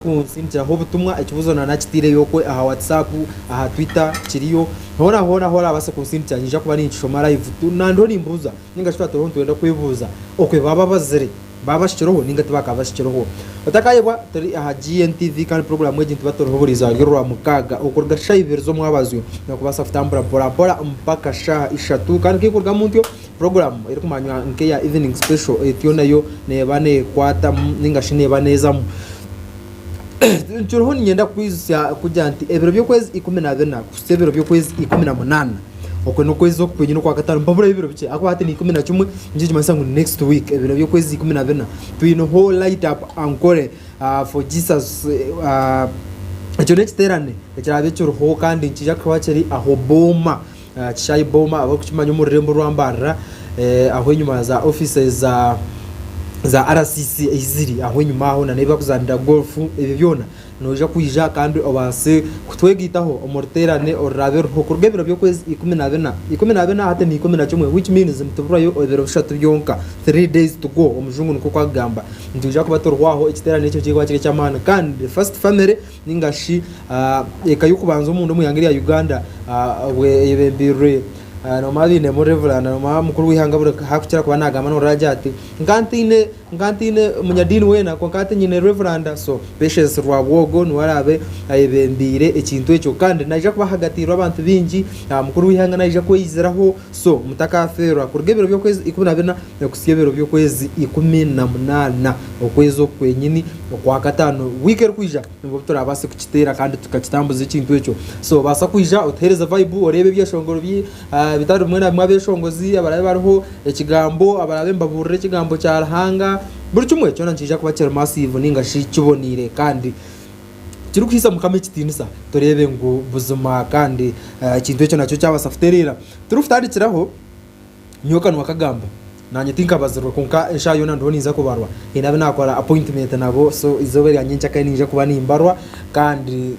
Kunsindikiraho obutumwa, ekibuzo na nakiteireyo okwe aha WhatsApp, aha Twitter, kiriyo. Hoona hoona ahu orabaase kunsindikira nyija kuba ninkishoma live tu na ndiho nimbuuza ninga shi twaba turiho nitwenda kwebuuza okwe baaba abazire baaba bashikireho ninga ti bakaba bashikireho. Otakayebwa turi aha GNTV kandi puroguramu egi nituba turiho buri izooba ry'orwa mukaaga okuruga shaaha ibiri z'omwabazyo na kubaasa kutambura mpora mpora mpaka shaaha ishatu kandi ku ekurugamu ntyo Puroguramu erikumanywa nk'eya Evening Special etyo nayo neeba neekwatamu nainga shi neeba neezamu. Nkiriho niinyenda kukwijutsya kugira nti ebiro by'okwezi ikumi na bina kuhitsya ebiro by'okwezi ikumi na munaana, okwe n'okwezi oku kwenyine okwa kataano nihaburayo ebiro bikye ahakuba hati ni ikumi na kimwe, nikyo nikimanyisa ngu next week ebiro by'okwezi ikumi na bina twineho Light Up Ankole for Jesus. Ekyo n'ekiteerane ekiraabe kiriho kandi nikiija kuba kiri aha Hobboma Aha kishaayi Boma abarikukimanya omu rurembo rwa Mbarara aho enyima ya za offices za za RCC eziri aho enyima aho nana ebi barikuzaanira golf ebyo byona noija kwija kandi obaase kutwegaitaho omu ruteerane oruraabe ruriho kuruga ebiro by'okwezi ikumi na bina ikumi na bina hati ni ikumi na kimwe which means nituburayo ebiro bishatu byonka three days to go omujungu nikwo oku arikugamba nitwija kuba turiho aho ekiteerane ekyo nikirikuba kiri eky'amaani kandi first family ninga shi eka y'okubanza omunda omu ihanga erya Uganda obwe eyebembirwe nomara bainemu reveranda nomara mukuru w'ihanga buri hakukira kuba nagamba norora agira ati nka ntaine nka ntaine munyadiini wena kwonka hati nyine reveranda so Patience Rwabwogo niwe araabe ayebembeire ekintu ekyo kandi naija kuba ahagatiirwe abantu baingi mukuru w'ihanga naija kweyiziraho So, mutakafeerwa kuruga ebiro by'okwezi ikumi na bina okutsya ebiro by'okwezi ikumi na munaana, okwezi okwo kwenyini okwa kataano wiiki erikwija nibwo turabaase kukiteera kandi tukakitambuza ekintu ekyo. So, obaasa kwija otuheereze vibe, oreebe ebyeshongoro bi ah, bitari bimwe na bimwe abeshongozi abarabe bariho, ekigambo abarabe nibabuurira ekigambo kya Ruhanga, buri kimwe kyona nikiija kuba kiri massive ninga shi kiboneire kandi kirikuhaisa Mukama ekitiinisa, tureebe ngu buzima kandi eh, ekintu ekyo nakyo kyabaasa kutereera. Turikutandikiraho nyowe kanwa kagamba nanye tinkabazirwe kwonka enshaha yoona ndiho ninza kubarwa haine abu nakora appointment nabo so izooba erya nyenka kare ninja kuba nimbarwa kandi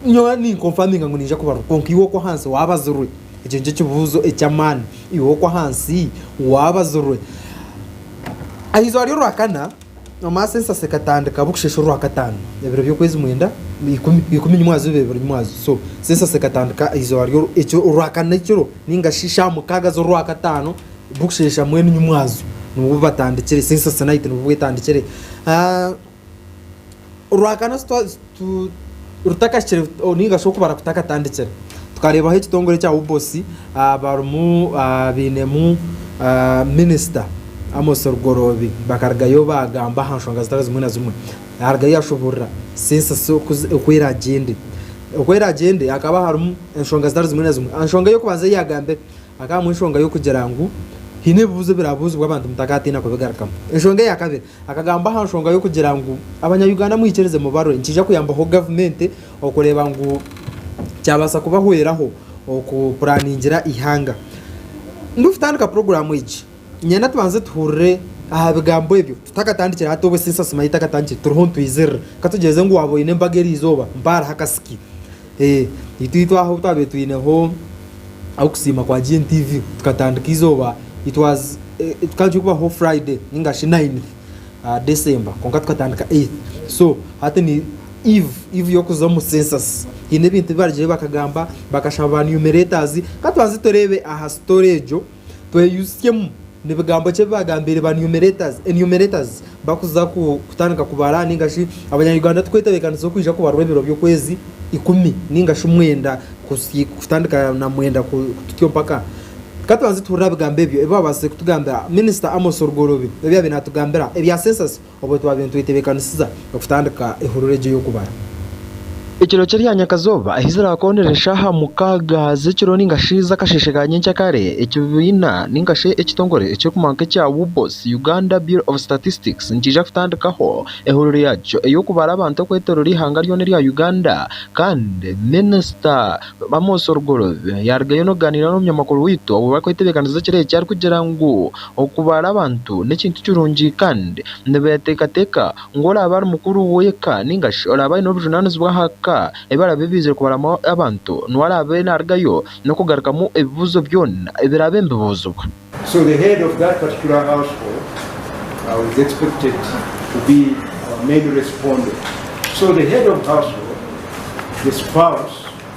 nyowe ninconfaminga ngu ninja kubarwa kwonka iwe okwahansi wabazirwe ekyo nikyo kibuuzo eky'amaani iwe okwahansi wabazirwe aha izooba ry'orwakana Omumaasa ensasa ekatandika bukushesha orwakataano ebiro by'okwezi mwenda ikumi ikumi nimwe azuba ebiro nimwe azuba so so ensasa ekatandika eizooba ry'oru ekyo orwakana ekiro ninga shi sha mukaaga z'orwakataano bukushesha mwenu nimwe azu nibwo batandikire so ensasa night nibwo bwetandikire ah, orwakana rutakahikire ninga shi okubara kutakatandikire tukareebaho ekitongore ekya UBOS barimu bainemu minisita Amos Rugoroobi bakarugayo baagamba aha nshonga zitari zimwe na zimwe yarugayo yashuburira sensus oku eragye ende oku eragye ende hakaba harimu enshonga zitari zimwe na zimwe aha nshonga ey'okubanza ei yagambire Hakabaamu enshonga y'okugira ngu haine ebibuuzo ebiraabuuzibwa abantu mutakatiina kubigarukamu. Enshonga eya kabiri, akagamba aha nshonga y'okugira ngu Abanyayuganda mwikirize mubarwe nikiija kuyambaho gavumenti okureeba ngu kyabaasa kubahweraho okupuraaningira eihanga. Ndikutandika puroguraamu egi, niinyenda tubanze tuhurire aha bigambo ebyo tutakatandikire hati obwo esaasi manya etakatandikire turiho nitwizirira. Ka tugyeze ngu waaba oine embaga erizooba mpaho hariho akasiki. Itwe ahu twabaire twineho okusiima kwa GNTV tukatandika eizooba kikaba kubaho Friday ninga shi Ninth December kwonka tukatandika Eighth so hati ni Eve, Eve y'okuza omu Census. Haine ebintu ebi barigireho bakagamba bakashaba ba numerators. Ka tubanze tureebe aha story egyo. Tweyijutsemu nebigambo ki ebibagambiire ba enumerators bakuza kutandika kubara ninga shi abanya Uganda tukwetebekanisa okwija kubarwa ebiro byokwezi ikumi ninga shi mwenda kutandika na mwenda tutyo mpaka katubanze tuhurire abigambo ebyo ebibabaasize kutugambira minister Amos Rugorobi ebyabaire natugambira ebya census Obwo twabaire nitwetebeekanisiza okutandika ehurura egyo y'okubara. Ekiro ky'eryanyakazooba ahi ziraakoonera eshaaha mukaaga z'ekiro nainga shi z'akasheeshe ka nyenkya kare, ekibiina nainga shi ekitongore ekirikumanywa nk'ekya UBOS, Uganda Bureau of Statistics, nikiija kutandikaho ehurura yaakyo ey'okubara abantu okwetooroora eihanga ryona erya Uganda kandi Minisita Amos Rugorobi yaarugayo n'okugaaniira n'omunyamakuru waitu obu barikwetebeekanisiza ekiro eki arikugira ngu, Okubara abantu n'ekintu kirungi kandi nibeeteekateeka ngu oraabe ari mukuru w'eka nainga shi oraabe aine obujunaanizibwa aha ka ebi araabe baizire kubaramu abantu, niwe araabe naarugayo n'okugarukamu ebibuuzo byona ebiraabe nibibuuzibwa. So the head of that particular household is expected to be our main respondent. So the head of household, the spouse,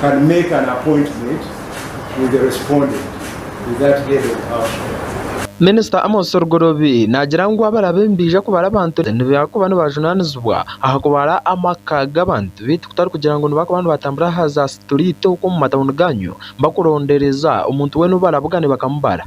can make an appointment with the respondent with that head of household. Minisita Amos Rugorobi naagira ngu abarabe nibaija kubara abantu nibakuba nibajunaanizibwa aha kubara amaka g'abantu beitu kutarikugira ngu nibakuba nibatambura aha za situriiti okwo omu matauni gaanyu bakurondereza omuntu weena ou barabugane bakamubara.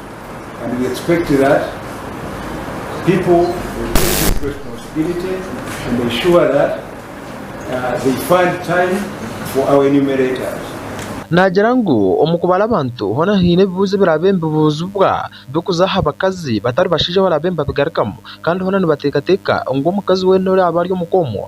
Naagira ngu omu kubara abantu hoona haine ebibuuzo ebiraabe nibibuuzibwa bikuza aha bakazi batari bashaija baraabe nibabigarukamu kandi hoona nibateekateeka ngu omukazi weena oraabe ari omu ka omwo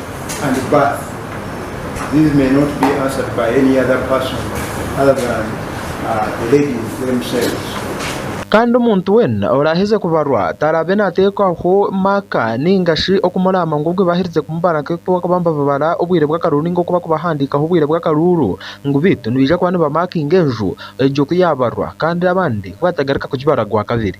and birth, these may not be answered by any other person other than uh, the ladies themselves. Kandi omuntu weena oraaheze kubarwa taraabe naateekwaho maaka nainga shi okumuraama ngu obwe baaherize kumubara nk'oku bakaba nibababara obwire bw'akaruuru nainga oku bakubahandiikaho obwire bw'akaruuru ngu beitu nibaija kuba nibamaakinga enju egyo ku yaabarwa kandi abandi ku baatagaruka kugibara gwa kabiri.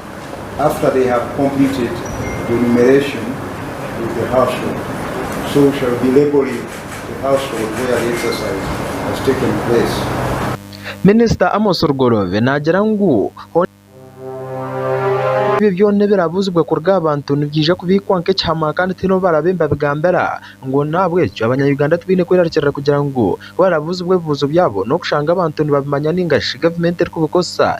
after they have completed the enumeration with the household so we shall be labelling the household where the exercise has taken place. Minisita Amos Rugoloobe naagira ngu hoona ahu ebyo byona ebirabuuzibwe kuruga aha bantu nibyija kubiikwa nk'ekihama kandi tihaine ou baraabe nibabigambira ngu n'ahabw'ekyo abanya-Uganda tibaine kwerarikirira kugira ngu ku barabuuzibwa ebibuuzo byabo n'okushanga abantu nibabimanya nainga shi gavumenti erikubikozesa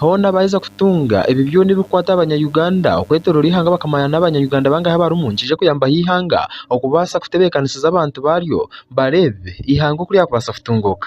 Hoona baaheza kutunga ebyo byona ebirikukwata abanya Uganda okwetoroora eihanga bakamanya n'abanya Uganda bangahi abarimu nikija kuyambaho eihanga okubaasa kutebeekanisiza abantu baaryo bareebe eihanga oku ryakubaasa kutunguuka.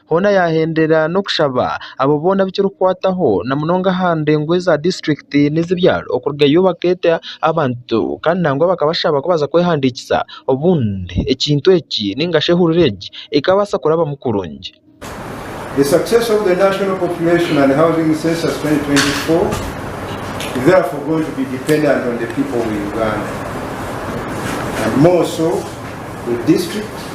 Hoona yaahendera n'okushaba abo boona abu kirikukwataho na munonga aha ndengo eza disiturikiti n'ez'ebyaro okurugayo bakeeta abantu kandi nangwa bakabashaba kubaza kwehandiikisa obundi ekintu eki nigashi ehurura egi ekabaasa kurabamu kurungi.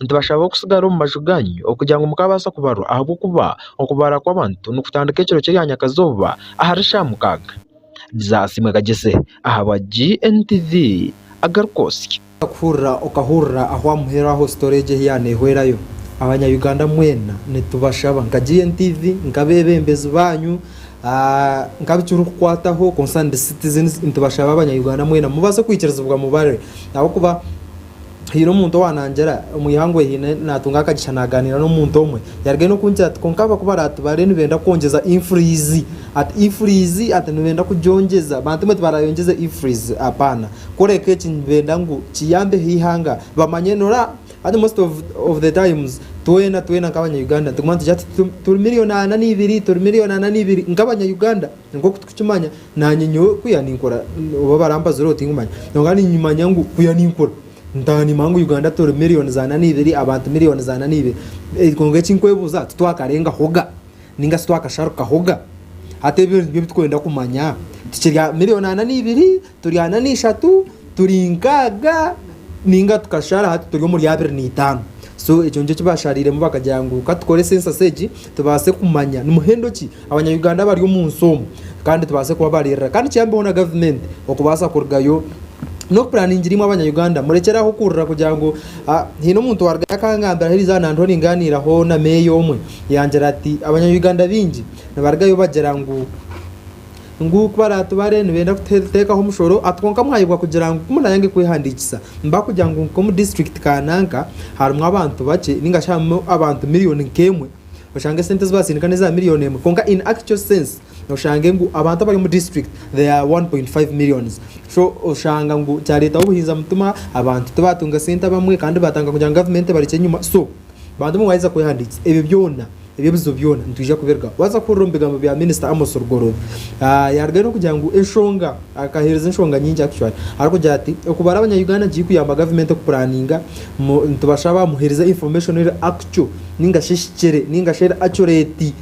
Nitubashabaho kutsigara omu maju ganyu okugira ngu mukabaasa kubarwa ahabw'okuba okubaara kw'abantu nikutandika ekiro ky'erya nyakazooba ahari shaaha mukaaga. Jaasi Mwekagyese ahabwa GNTV agaruka osye. Kuhurira okahurira ahu aha muheru aho story egyo ahu yaanehwerayo. Abanya Uganda mwena nitubashaba nka GNTV, nk'abeebembezi baanyu, nkabi kirikukwataho, concerned citizens, nitubashaba abanya Uganda mwena mubaase kwikirizibwa mubare ahabw'okuba, Haine omuntu owaanangira omu ihanga owu haine naatunga akagisha naagaaniira n'omuntu omwe, yarugayo n'okungira ati, Kwonka abaku baraatubare nibenda kwongyeza ifuriizi. Ati, Ifuriizi? Ati, Nibenda kugyongyeza? Bantu baitu baraayongyeza ifuriizi? Apaana. Kureka eki, nibenda ngu kiyambeho eihanga bamanye nora. Hati most of, of the times, twena, twena nk'Abanya-Uganda nituguma nitwigira tuti, Turi milioni ana na ibiri, turi milioni ana na ibiri, nk'Abanya-Uganda. Nk'oku turikukimanya, naanye nyowe kuya ninkora, oba barampazire obu tinkimanya, kwonka ninkimanya ngu kuya ninkura ntaaha niimanya ngu Uganda turi miriyoni zaana naibiri, abantu miriyoni zaana naibiri. Kwonka eki nkwebuuza, titwakarengahoga nainga shi twakasharukahoga? Hati ebyo nibyo ebi turikwenda kumanya. Tukiri aha miriyoni ana naibiri Turi ana n'eishatu, turi nkaaga ninga tukashara hati turi omuri abiri n'itaano. So ekyo nikyo kibashariiremu bakagira ngu katukore sensasi egi tubaase kumanya nimuhendo ki abanya-Uganda abari omu nsi omu kandi tubaase kubabariirira kandi kiyambeho na gavumenti okubaasa kurugayo n'okupuraningira imwe abanya-Uganda murekyere aho kuhurira kugira ngu ah, haine omuntu owarugayo akangambira ahariize aha nandiho ningaaniiraho na meeya omwe yangira ati abanya-Uganda baingi nibarugayo bagira ngu ngu ku baraatubare nibeenda kuteekaho omushoro ati kwonka mwayebwa kugira ngu ku munaayange kwehandiikisa nibakugira ngu nk'omu disiturikiti kaananka harimu abantu bakye ninga shi harimu abantu miriyoni nk'emwe oshange sente ezi baatsindika n'eza miriyoni emwe kwonka in actual sense oshange ngu abantu abari omu disiturikiti they are 1.5 millions so oshanga ngu kyareetaho obuhinza mutima abantu tibaatunga sente abamwe kandi baatandika kugira ngu gavumenti ebarekye enyima so bantu obumwaheeza kwehandiikisa ebyo byona Ebyo ebizibu byona nitwija kubirugaho. Waaza kuhurira omu bigambo bya Minisita Amos Rugorobi, yaarugayo n'okugira ngu enshonga, akaheereza enshonga nyingi actually, arikugira ati okubara abanya-Uganda nikiri kuyamba gavumenti okupuraninga, nitubashaba muheereze information eri actual ninga shi ehikire ninga shi eri accurate.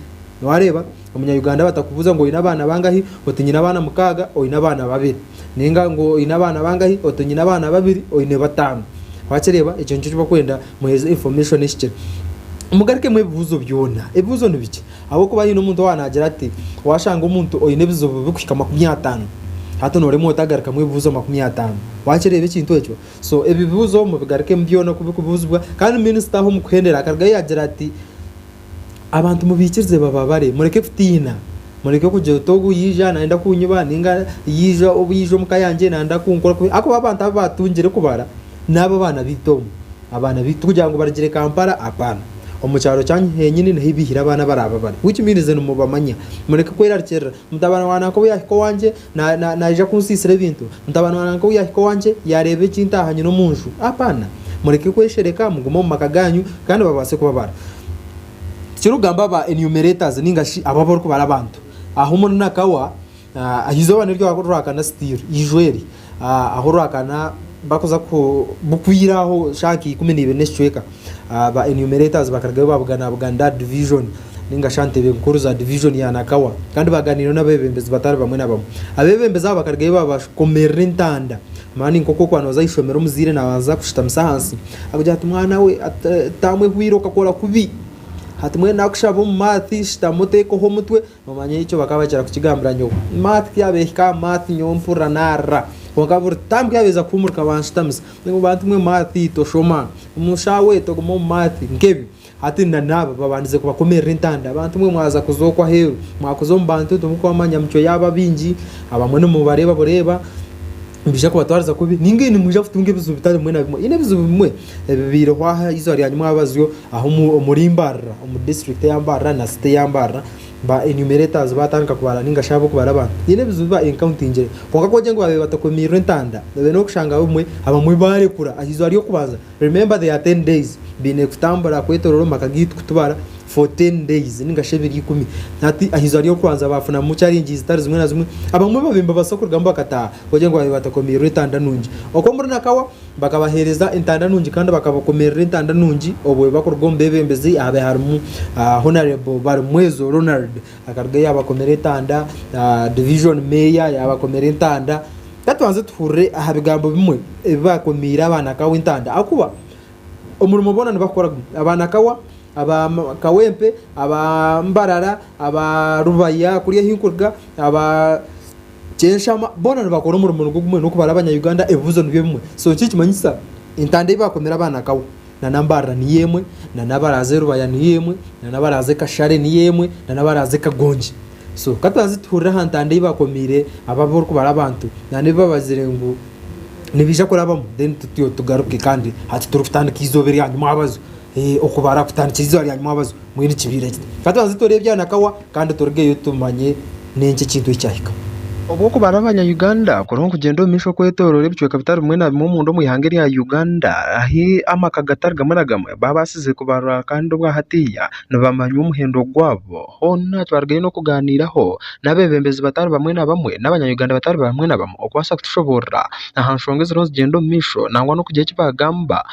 Waareeba, omunya-Uganda batakubuuza ngu oine abaana bangahi, oti nyine abaana mukaaga, oine abaana babiri. ninga ngu oine abaana bangahi oti nyine abaana babiri oine bataano wakireba ekyo nikyo kibakwenda muheze information ehikire mugarikemu ebibuzo byona ebibuzo nibiki ahabwokuba haine omuntu owa nagira ati washanga omuntu oine ebizibu bikuhika makumi ataano hati noremu otagarikamu ebibuzo makumi ataano wakireba ekintu ekyo so ebibuzo mubigarikemu byona kubikubuzibwa kandi minisita aho mukuhendera akarugayo yagira ati Abantu mubaikirize bababare, mureke kutiina, mureke kugira oti ogu yaija nayenda kunyiba ninga yaija obu yaija omuka yangye nayenda kunkora kubi ahakuba abantu abu batungire kubara n'aba abaana baitu omu abaana baitu kugira ngu barugire Kampala hapana. Omu kyaro kyanyu henyini niho ibaihire abaana abaraaba bari which means nimubamanya. Mureke kwerarikirira mutabani wa nanka obu yaahika owangye. Naija kunsiisira ebintu. Mutabani wa nanka ou yaahika owangye, yaareeba eki ntaaha nyine omu nju. Apana! Mureke kweshereka, mugume omu maka gaanyu, kandi babaase kubabara. Tikirikugamba ba enumerators ninga shi abo abarikubara abantu. Aha omuri Nakawa, eizooba niryo orwakana still, eijwa eri, aha orwakana bakuza ku, bukwiire aho shaaha nka ikumi na ibiri n'ekicweka. Ba enumerators bakarugayo baabugana aha buganda aha division ninga shi aha ntebe nkuru za division ya Nakawa kandi baaganiireho n'abeebembezi batari bamwe na bamwe. Abeebembezi abo bakarugayo baabakomerera entanda mani nk'oku okuba nooza aha ishomero omuzaire naabanza kushutamisa ahansi akugira ati mwana we ati taamu ehwiire okakora kubi hati mbwenu naakushaba omu math shutama oteekeho omutwe Noomanya ekyo bakaba bakira kukigambira nyowe. Math ti abeehika aha math nyowe mpurira naarira. Kwonka buri taamu ku yaabaheeza kuhuumurika banshutamisa. Ngu bantu mwe math toshoma. Omu shaaha egi toguma omu math. Nk'ebi. Hati na naaba babandize kubakomerera entanda. Bantu mwe mwaza kuza okwo aheeru. Mwakuza omu bantu timurikubamanya micwe yaabo abaingi. Abamwe nimubareeba bureeba. Nibiija kubatwariza kubi ninga ei nimwija kutunga ebizibu bitari bimwe na bimwe? Haine ebizibu bimwe ebibaireho aha izooba rya nyima abazyo aha omuri Mbarara, omu district eya Mbarara na city eya Mbarara ba enumerators baatandika kubara ninga shi ab'okubara abantu. Haine ebizibu ba encountingire. Kwonka ku bagyenyi baabaire batakomiirwe entanda, noobaire n'okushanga abamwe abamwe baarekura aha izooba ry'okubanza Remember they are ten days baine kutambura kwetorora omumaka gaitu kutubara for ten days ninga shi ebiro ikumi hati aheizooba ryokubanza bafunamu challenges zitari zimwe na zimwe abamwe babaire nibabaasa kurugamu bakataaha kugira ngu babaire batakomiirwe entanda nungi ok omuri Nakawa bakabaheereza entanda nungi kandi bakabakomerera entanda nungi obwe bakuruga omubebembezi ahabaire harimu Honarable Barimwezo Ronald Akaruga yaabakomera entanda, Division Mayor yaabakomera entanda. Ka tubanze tuhurire aha bigambo bimwe ebi baakomiire abaana Kawa entanda ahakuba omurimo boona nibakora gumwe. Abaana Kawa, aba Kawempe, aba Mbarara, aba Rubaya kuri ahi nkuruga, aba Kyenshama boona nibakora omurimo nigwo gumwe n'okubara Abanya-Uganda ebibuzo nibyo bimwe. So nikyo nikimanyisa entanda ei baakomire abaana Kawa nana Mbarara niyo emwe, nana abaraaze Rubaya niyo emwe, nana abaraaze Kashare niyo emwe, nana abaraaze Kagongi. So katubanze tuhurire aha ntanda ei bakomiire aba abarikubara abantu nana ebi babazire ngu nibaija kurabamu then tutyo tugaruke kandi hati turikutandika eizooba erya nyimwabazo. Eh, okubara kutandikira eizooba rya nyimwabazo. Mbwenu kibaire kiti, ka tubanze tureebe byanakawa kandi turugeyo tumanye n'enki ekintu eki kyahika. Obwo kubara abanya-Uganda kuriho nikugyenda omu maisho kwetooroora ebicweka bitari bimwe na bimwe omunda omu ihanga erya Uganda, ahi amaka gatari gamwe na gamwe baabaasize kubarwa kandi obwa hatiiya nibamanywa omuhendo gwabo. Hoona twarugayo n'okugaaniiraho n'abeebembezi batari bamwe na bamwe n'abanya-Uganda batari bamwe na bamwe okubaasa kutushoboorora aha nshonga eziriho nizigyenda omu maisho nangwa n'okugira eki baagamba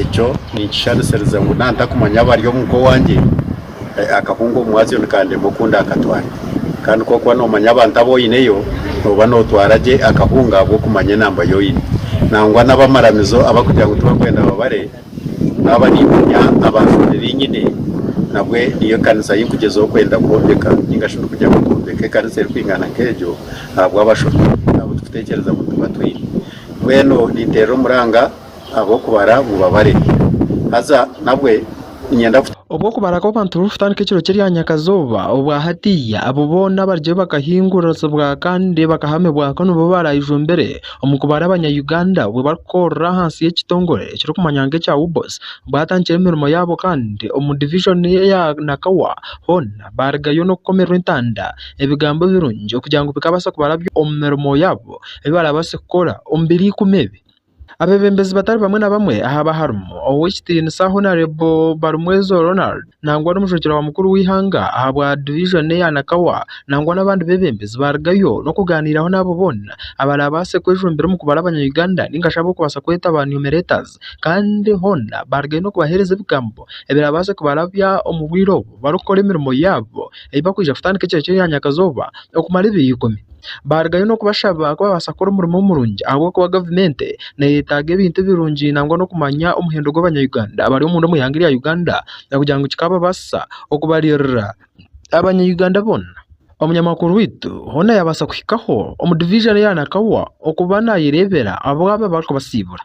Ekyo ninkisharisiriza ngu nantakumanya abari omu nka owangye, akahunga omwazyo nikandema oku ndakatware. Kandi ku orikuba nomanya abantu abu oineyo, noba notwara gye akahunga ahabw'okumanya enamba yu oine. Nangwa n'abamaramizo abarikugira ngu tibarikwenda babare, naaba nimanya abantu babiri nyine, nabwe niyo kanisa ei ndikugyezaho kwenda kwombeka ninga shi ndikugira ngu nkombeke ekanisa erikwingana nk'egyo ahabw'abashobi abu turikutekyereza ngu tuba twine. Mbwenu ninteera omuranga. Obw'okubara kw'abantu burikutandika ekiro ky'eryanyakazooba obwa hatiiya, abo boona abaryo bakahinguririrsibwa kandi bakahamibwako nibo baaraijumbiire omu kubara Abanya-Uganda obwo barikukorera ahansi y'ekitongore ekirikumanywa nk'ekya UBOS baatandikire emirimo yaabo kandi omu divijoni ya Nakawa hoona baarigayo n'okukomererwa entanda ebigambo birungi kugira ngu bikaabaasa kubaraby'omu mirimo yaabo ei baaraabaase kukora omu biro ikumi ebi. Abebembezi batari bamwe na bamwe ahaba harimu ow'ekitiinisa Honarebo Barumwezo Ronald nangwa n'omushwekye wa mukuru w'eihanga ahabwa divijoni eya Nakawa nangwa n'abandi bebembezi barugayo n'okuganiraho n'abo boona abarabaase kwejumbira omu kubara abanya Uganda ninga shi ab'okubaasa kweta aba numeretors kandi hoona barugayo n'okubahereza ebigambo ebirabaase kubarabya omu bwire obu barikukora emirimo yaabo ei bakwija kutandika ekiro ky'enyakazooba okumara ebiro ikumi. Baarugayo n'okubashaba ku baabaasa kukora omurimo murungi ahabw'okuba gavumenti neeyetaaga ebintu birungi nangwa n'okumanya omuhendo gw'Abanyayuganda abari omunda omu ihanga rya Uganda kugira ngu kikaabaasisa okubaririra Abanyayuganda boona. Omunyamakuru waitu hoona yaabaasa kuhikaho omu diviizoni ya Nakawa okuba naayereebera ab'abo abarikubasiibura.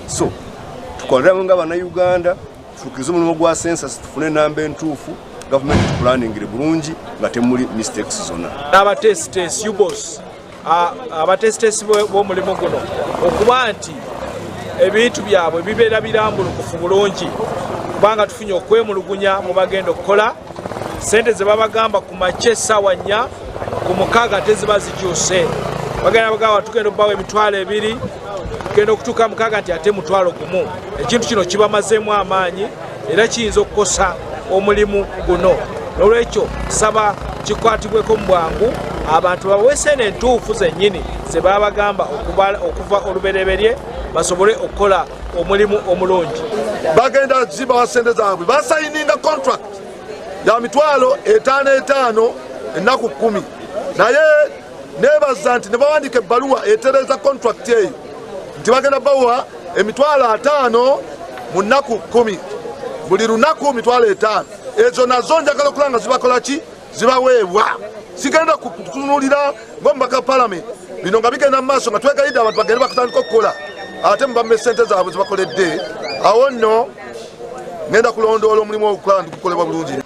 So, tukorere hamwe nga abana Uganda, tushukirize omurimo gwa census tufune enamba entuufu, government etupulaningire burungi nga temuri mistakes zona. N'abatesitesi, UBOS, abatesitesi b'omurimo guno okuba nti ebintu byabwe bibeera biramburukufu burungi kubanga tufunye okwemulugunya omu bagenda okukora, sente zibabagamba kumakye saawa nya, ku mukaaga teziba zijuuse, bagenda nibagamba tugenda okubawa emitwaro ebiri, Kugenda okutuuka aha mukaga nti hati mutwaro gumu, ekintu kino kibamazeemu amaani era kiyinza okukosa omulimu guno. N'olwekyo tusaba kikwatibweko omu bwangu abantu babawe esente entuufu zenyini ze baabagamba okuva orubereberye basobole okukora omulimu omurungi. Bagenda kuzibaha sente zaabwe basayininga kontrakiti ya mitwaro etaano etaano enaku kumi naye. Neebaza nti nibawandiika ebaruwa etereeza, contract, eyi nti bagenda bawa emitwaro ataano mu naku kumi, buri runaku mitwaro etaano. Ezo nazo njagala kurora nga zibakora ki? Zibaweebwa. Sigenda kutunurira ngu omubaka wa paramenti bino nga bigenda mu maaso nga twegaide abantu bagende bakutandika okukora ate mbu bamume sente zaabo zibakoredde. Awo nno ngenda kulondoola omurimu ogu kukora nigukorebwa burungi.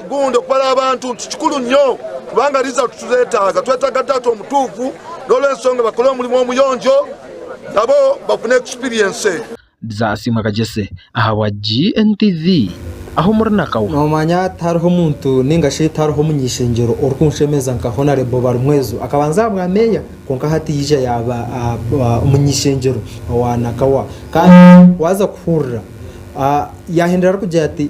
Kukunda okubara abantu nti kikuru nyo kubanga ariija kuturetaaga. Twetaaga Taata omutuufu n'olw'enshonga bakore omurimo omuyonjo nabo bafune ekisipiriyense. Bizasiimwa Kagyese ahabwa GNTV aho muri na Kawa. Noomanya tihariho omuntu nainga shi tihariho omuny'eishengyero orikunshemeza nka Honarebo Balimwezo. Akabanza aha bwameeya kwonka hati yaija yaaba omuny'eishengyero owa Nakawa. Kandi waaza kuhurira, yaahindura arikugira ati,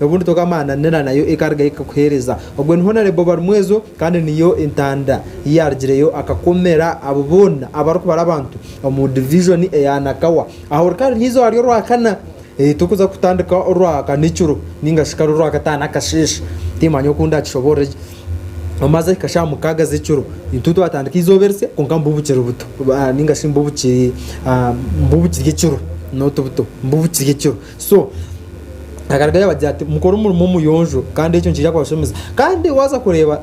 Obundi toka amaananira nayo ekarugayo ekakuheereza. Ogwo ni Honarebo Barumwezo kandi niyo entanda yaarugireyo akakomera abo boona abarikubara abantu omu divijoni eya Nakawa. Aha orikaba niiza ohari Orwakana, torikuza kutandika Orwakana ekiro nainga shi kare Orwakataano akasheeshe. Tiimanya oku ndakishoboorore gye. Omaze ahika shi aha mukaaga z'ekiro, itwe twatandika eizooba erisya kwonka mbu bukiri buto nainga shi mbu bukiri ekiro, not buto, mbu bukiri ekiro. So akarugayo abagira ati mukore omurimo omuyonjo kandi ekyo nikija kubashemeza kandi waza kureba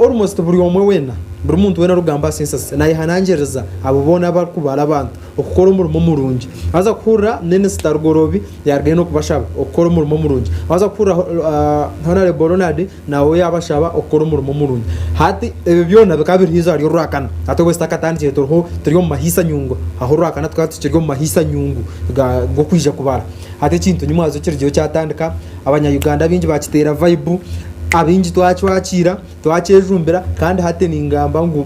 almost buri omwe wena buri muntu wena orugamba aha sensasi nayehanangiriza abo bona abarikubara abantu okukora omurimo omurungi waza kuhurira minisita rugorobi yarugayo nokubashaba okukora omurimo omurungi waza kuhurira uh, honorable ronald Nawe yabashaba okukora omurimo murungi. Hati ebyo byona bikaba biri haizi ahari Orwakana. Hati obwe zitakatandikire turiho turi omu mahiisa nyungu. Aho Orwakana tukaba tukiri omu mahiisa nyungu ga g'okwija kubara. Hati ekintu ni mwazo kirigireho kyatandika, abanya Uganda abaingi bakiteera vaibu, abaingi twacwakiira, twakyejumbira kandi hati ningamba ngu,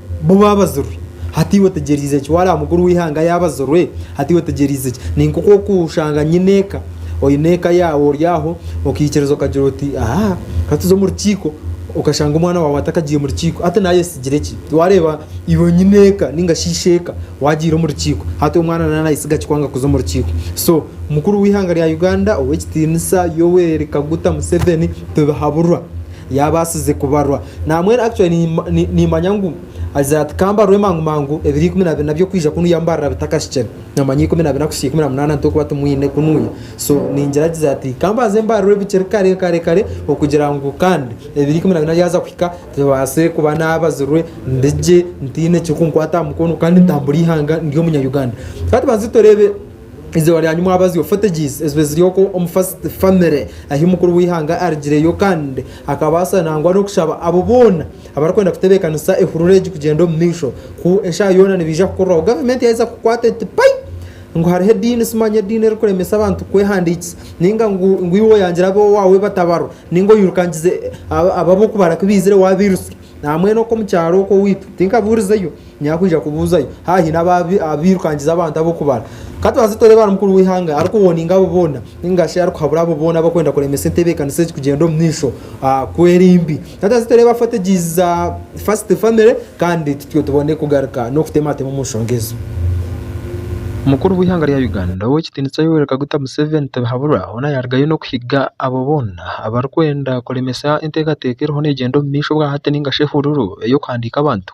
Bo baabazirwe. Hati iwe otegyereize ki? Waareba mukuru w'eihanga yaabazirwe, hati iwe otegyereize ki? Ni nk'oku orikushanga nyine eka, oine eka yaawe ori aho, okaikiriza okagira oti, Aha, ka tuze omu rukiiko, okashanga omwana waawe atakagiire omu rukiiko. Hati naayesigire ki? Waareeba iwe nyine eka nainga shi isheeka waagiire omu rukiiko, hati omwana nawe naayesiga ki kwanga kuza omu rukiiko? So, mukuru w'eihanga rya Uganda ow'ekitiinisa Yoweri Kaguta Museveni tibihaburwa. Yaabaasize kubarwa naamwe era actually ni- ni- niimanya ngu agira ati kambarwe mangu mangu ebiro ikumi na bina by'okwija kunu yamubarira bitakahikire namanya ikumi na bina kuhitsya ikumi na munaana nitwokuba timwine kunuuya so ningira agize ati kambanze mbarirwe bikiri kare kare kare okugira ngu kandi ebiro ikumi na bina byaza kuhika tubaase kuba naabazirwe ndigye ntaine ekirikunkwata aha mukono kandi ntambure eihanga ndi omunya-Uganda. Ka tubanze tureebe. Eizooba ryanyu mwabazyo Photogyz ezibe ziri okwo omu first family ahi omukuru w'eihanga arigireyo kandi akabaasa nangwa n'okushaba abo boona abarikwenda kutebeekanisa ehurura egi kugyenda omu maisho ku eshaaha yoona nibaija kukuriraho gavumenti yaaheeza kukwata eti pai ngu hariho ediini simanya ediini erikuremesa abantu kwehandiikisa ninga ngu ngu iwe oyangire ab'owaawe batabarwa ninga oyirukangize abo ab'okubaraka ebaizire waabairusya aha mbwenu okwo omu kyaro okwo owaitu tinkabuurizeyo Nyakwija kubuuzayo haaba haine abairukangiza abantu ab'okubara. Ka tubanze tureebe ahari mukuru w'eihanga arikuwoninga abo boona ninga shi arikuhabura abo boona abarikwenda kuremesa entebeekanisa egi kugyenda omu maisho ku eri mbi. Ka tubanze tureebe afategyizi za First Family kandi tutyo tubone kugaruka n'okutematema omu nshonga ezo. Mukuru w'eihanga rya Uganda Ow'ekitiinisa Yoweri Kaguta Museveni tibihaburwa hoona yaarugayo n'okuhiga abo boona abarikwenda kuremesa enteekateeka eriho neegyenda omu maisho obwa hati ninga shi ehururu ey'okuhandiika abantu.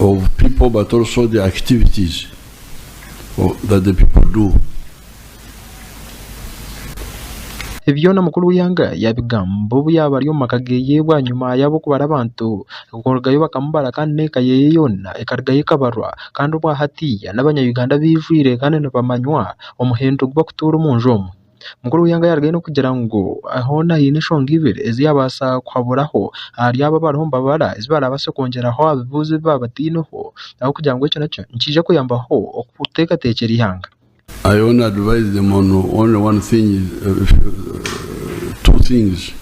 of people but also the activities that the people do. Ebi byona mukuru w'eihanga yaabigamba obu yaaba ari omu maka geye bwanyima y'ab'okubara abantu kurugayo bakamubara kandi n'eka yeye yoona ekarugayo ekabarwa kandi obwa hatiiya n'abanya Uganda abeijwire kandi nibamanywa omuhendo ogu bakutuura omu nju omwe. Mukuru w'eihanga yarugayo n'okugira ngu hoona haine enshonga ibiri ezi yaabaasa kuhaburaho ahari abo abariho nibabara ezi baarabaase kwongyeraho aha bibuuzo ebi baaba bataineho ahabw'okugira ngu ekyo nakyo nikiija kuyambaho kuteekateekyera eihanga. I only advise them on only one thing, two things,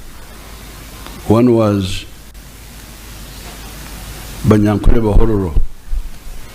one was Banyankore Bahororo.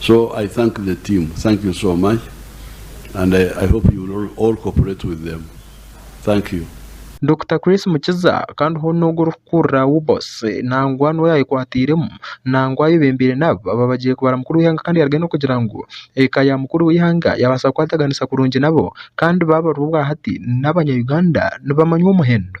so I thank the team thank you so much and I hope you will all cooperate with them thank you. Dokita Chris Mukiza kandi hoona ogu orikukurira UBOS nangwa niwe yaayekwatairemu nangwa ayebembeire n'abo abaabagiire kubara mukuru w'eihanga kandi yarugayo n'okugira ngu eka ya mukuru w'eihanga yaabaasa kukwataganisa kurungi nabo kandi baabarirwa obwa hati n'abanya Uganda nibamanywa omuhendo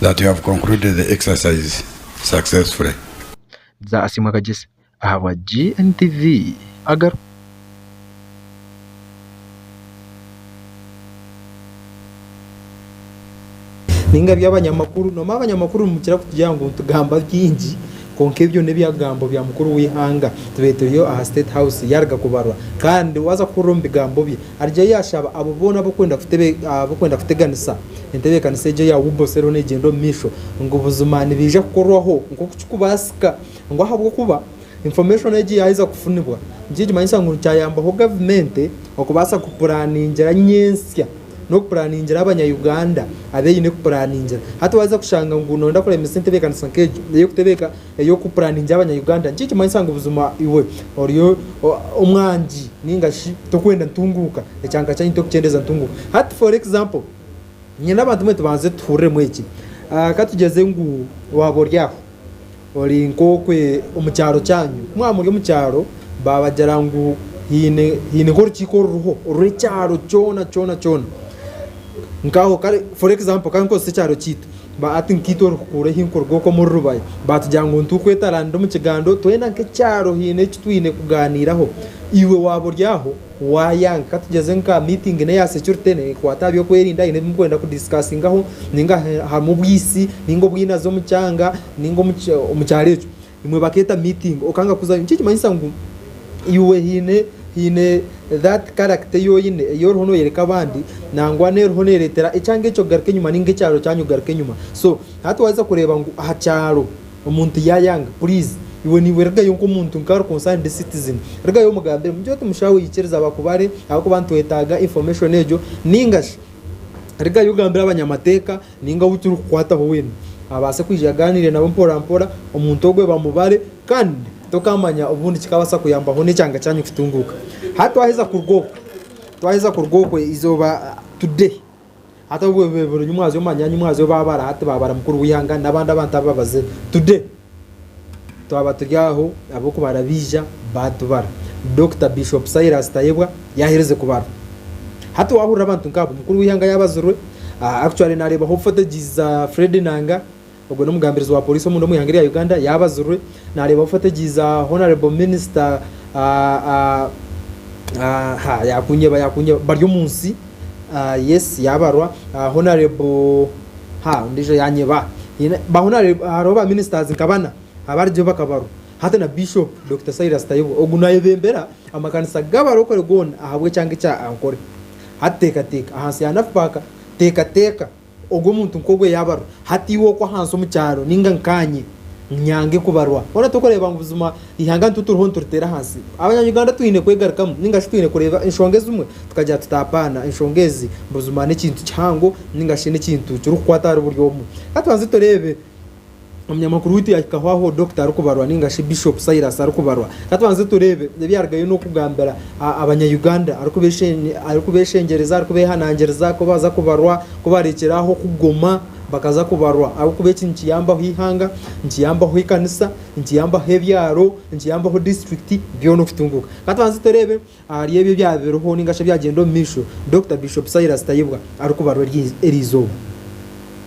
that you have concluded the exercise successfully. Bza Asiimwe Kagyezi ahabwa GNTV agaruka. Ninga by'abanyamakuru, noomanya abanyamakuru nimukira kutugirira ngu nitugamba bingi. Kwonka ebyo n'ebyagambo bya mukuru w'eihanga Tubeetureho aha State House yaaruga kubarwa kandi waaza kuhurira omu bigambo bye arigira yaashaba abo boona abarikwenda kuteganisa entebeekanisa egyo eya UBOS eriho neegyenda omu maisho ngu buzima nibaija kukorwaho nk'oku kirikubaasika ngu ahabw'okuba information egyo yaaheza kufunibwa nikyo nikimanyisa ngu kyayambaho gavumenti okubaasa kupuraaningira nyentsya. n'okupuraningira abanya Uganda abu eine kupuraningira. Hati waaza kushanga ngu nooyenda kuremesa entebeekanisa nk'egyo ey'okutebeeka ey'okupuraningira abanya Uganda, niki nikimanyisa ngu buzima iwe ori omwangi nainga shi tokwenda ntunguuka? Ekyanka kyanyu tokukyendeeza ntunguuka. Hati for example, nyowe n'abantu mbwenu tubanze tuhururemu eki. Ka tugyeze ngu waaba ori aho Ori nk'okwe omu kyaro kyanyu. Mwaba muri omu kyaro baabagira ngu haine haine nk'orukiiko oruriho orw'ekyaro kyona kyona kyona nkaho kare for example ka nkozese ekyaro kyaitu ba hati nkaitu orikukuura ehi nkuruga oku omuri Rubaya baatugira ngu nitu kwetaraanira omu kigaando twena nk'ekyaro haine eki twine kugaaniiraho iwe waaba ori aho Waayanga, ka tugyeze nka aha miitingi n'eya securite neekwata aha by'okwerinda, haine ebi murikwenda kudiisikasingaho nainga harimu obwisi nainga obwinazi omu kyanga nainga omu kyaro ekyo, imwe bakeeta miitingi okanga kuzayo. Nikyo ekikumanyisa ngu iwe haine haine that character ei oine ei oriho nooyoreka abandi nangwa n'eriho neereetera ekyanga ekyo kugaruka enyima nainga ekyaro kyanyu kugaruka enyima. So hati waaheza kureeba ngu aha kyaro Omuntu yayanga please iwe niiwe rugayo nk'omuntu nka ari concerned citizen rugayo omugambire mugire oti mushaawe yikiriza bakubare ahabw'okuba nitwetaaga information egyo ninga shi rugayo ogambire abanyamateeka ninga ou turikukwataho weena abaase kwija agaaniire nabo mpora mpora omuntu ogwe bamubare kandi tokaamanya obundi kikabaasa kuyambaho n'ekyanga kyanyu kutunguuka. Hati twaheza kuruga okwe twaheza kuruga okwe eizooba today Hati obwo bibe biri nyimwazi omu manyanyi mwazi oba abara hati babara mukuru w'ihanga n'abandi abantu aba babazire. Today twaba turi aho ab'okubara baija batubara. Dokita Bishop Silas Tayebwa yaherize kubara. Hati wahurira abantu nk'abo mukuru w'ihanga yabazirwe, ah, actually nareeba hopeful stages za Fred Enanga, Ogwo n'omugambirizi wa Poliisi omunda omu ihanga erya Uganda yaabazirwe naareeba bufa tegyaiza Honourable Minister Baryomunsi yes yaabarwa Honourable ondiijo yaanyeba hariho ba Ministers nka bana abarigiho bakabarwa hati na Bishop Dokita Silas Tayebwa ogu naayebembera amakanisa g'abarokore goona ahabw'ekyanga ekya Ankole. Hati teekateeka ahansi ya NAFPAK teekateeka. Ogwo muntu nk'ogwo yaabarwa, hati iwe okwo ahansi omu kyaro, nainga nkaanye, nyange kubarwa. Boona turikureeba ngu buzima eihanga nitu turiho nituriteera ahansi. Abanya-Uganda twine kwegarukamu nainga shi twine kureeba enshonga ezimwe tukagira tuti apaana, enshonga ezi buzima n'ekintu kihango nainga shi n'ekintu kirikukwata ahari buri omwe. Ka tubanze tureebe. Omunyamakuru waitu yahikaho aho Dokita arikubarwa ninga shi Bishop Silas arikubarwa. Ka tubanze tureebe ebi yarugayo n'okugambira Abanyayuganda arikubeeshengyereza, arikubeehanangiriza ku baaza kubarwa, ku baareekyera aho kugoma bakaza kubarwa. Ahabw'okuba eki nikiyambaho eihanga, nikiyambaho ekanisa, nikiyambaho ebyaro, nikiyambaho disiturikiti byona okutunguuka. Ka tubanze tureebe Ahari ebyo ebyaba biriho ninga shi ebyagyenda omu maisho, Dokita Bishop Silas Tayebwa arikubarwa eri izooba.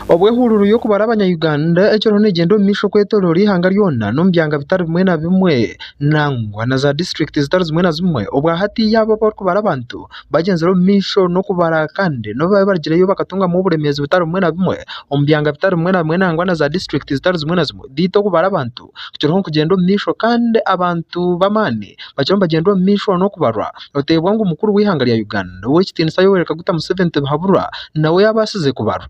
Obwo ehururu y'okubara abanyayuganda ekiriho negyenda omu maisho kwetoroora ihanga ryona n'omu byanga bitari bimwe na bimwe nangwa na za district zitari zimwe na zimwe obwa hatiiya abo abarikubara abantu bagyenzire omu maisho n'okubara kandi nobu baabaire barigireyo bakatungamu oburemeezi butari bumwe na bumwe omu byanga bitari bimwe na bimwe nangwa na za district zitari zimwe na zimwe beitu okubara abantu kukiraho nikugyenda omu maisho kandi abantu b'amaani bakiriho nibagyenda omu maisho n'okubarwa noteebwa ngu mukuru w'eihanga rya Uganda ow'ekitiinisa Yoweri Kaguta Museveni Tibihaburwa nawe yaabaasize kubarwa.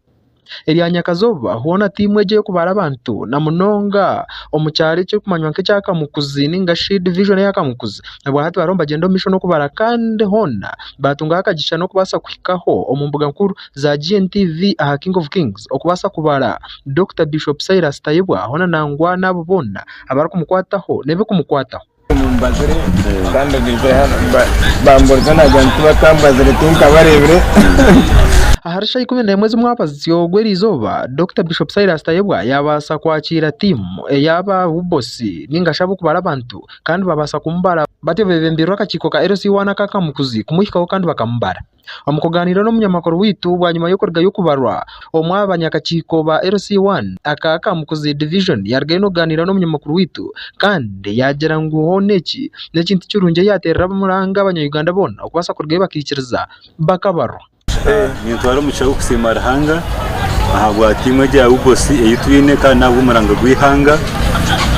Erya nyakazooba hoona tiimu egi ey'okubara abantu na munonga omu kyaro ekirikumanywa nk'ekya Kamukuzi nainga shi division eya Kamukuzi obwahati bariho nibagyenda omu maisho n'okubara kandi hoona baatungaho akagisha n'okubaasa kuhikaho omu mbuga nkuru. za GNTV aha King of Kings okubaasa kubara Dokita Bishop Silas Tayebwa hoona nangwa n'abo boona abarikumukwataho n'ebikumukwataho. Omu mbazire kandi baija hanu bambuuriza naagira ngu tibakambazire tinkabareebire. Ahari shaaha ikumi n'emwe z'omwabazyo gw'erizooba Dokita Bishop Silas Tayebwa yaabaasa kwakiira tiimu ey'aba UBOC ninga shi ab'okubara abantu kandi baabaasa kumubara batyo beebembirwe akakiiko ka LC1 aka Kamukuzi kumuhikaho kandi bakamubara. Omu kugaaniira n'omunyamakuru waitu bwanyima y'okurugayo kubarwa, omwe aha banyakakiiko ba LC I aka Kamukuzi Division yarugayo n'okugaaniira n'omunyamakuru waitu kandi yaagira ngu hoona eki n'ekintu kirungi eyateerera abamuranga abanya-Uganda boona okubaasa kurugayo bakaikiriza bakabarwa. Nintwara omugisha gw'okusiima Ruhanga ahabwa tiimu egi ya UBOS ei twine kandi n'ahabwa omuranga gw'eihanga